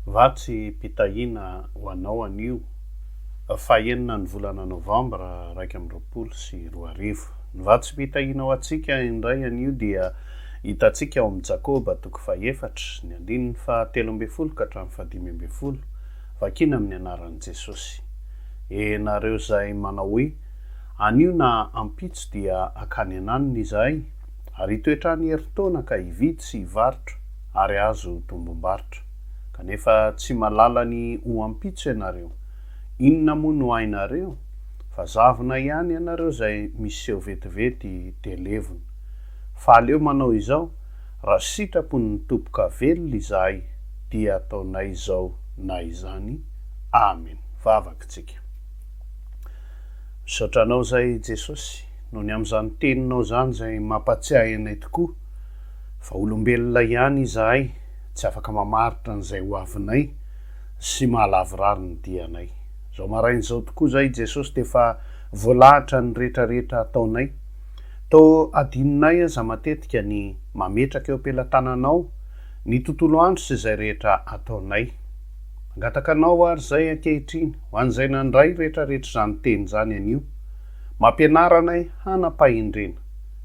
Va tsy mpitahiana ho anao anio? Fahenina ny volana novambra iraika amby roapolo sy roa arivo. Ny va tsy mpitahiana ho antsika indray anio dia hitantsika ao amin'ny Jakoba toko fahefatra, ny andininy fahatelo ambin'ny folo ka hatramin'ny fahadimy ambin'ny folo, vakina amin'ny anaran'i Jesosy. E nareo izay manao hoe, Anio na ampitso dia hankany an-anona izahay, ary hitoetra any herintaona ka hividy sy hivarotra, ary azo tombom-barotra. Kanefa tsy malala ny ho ampitso ianareo. Inona moa no hainareo? Fa zavona ihany ianareo izay miseho vetivety dia levona. Fa aleo manao izao, Raha sitrapon'ny Tompoka velona izahay, dia ataonay izao na izany. Amen. Vavaka tsika. Misaotra Anao izay Jesosy, noho ny amin'izany Teninao izany izay mampatsiahy anay tokoa. Vaolombelona ihany izahay, tsy afaka mamaritra an'izay ho avinay sy mahalavorary ny dianay. Izao maraina izao tokoa izahay i Jesosy dia efa voalahatra ny retraretra ataonay. Toa adinonay aza matetika ny mametraka eo am-pelatananao ny tontolo andro sy izay rehetra ataonay. Mangataka anao ary izay ankehitriny, ho an'izay nandray retraretra izany teny izany anio. Mampianara anay hanam-pahendrena.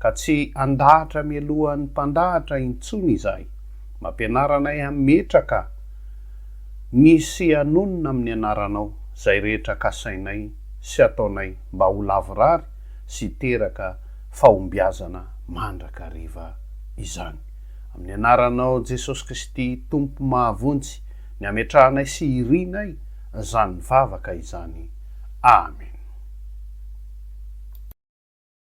ka tsy handahatra mialohan'ny mpandahatra intsony izahay. Mampianara anay hametraka ny sy hanonona amin'ny anaranao izay rehetra kasainay sy ataonay mba ho lavorary sy hiteraka fahombiazana mandrakariva izany. Amin'ny anaranao Jesosy Kristy Tompo mahavonjy ny hametrahanay sy hirianay izany vavaka izany. Amen.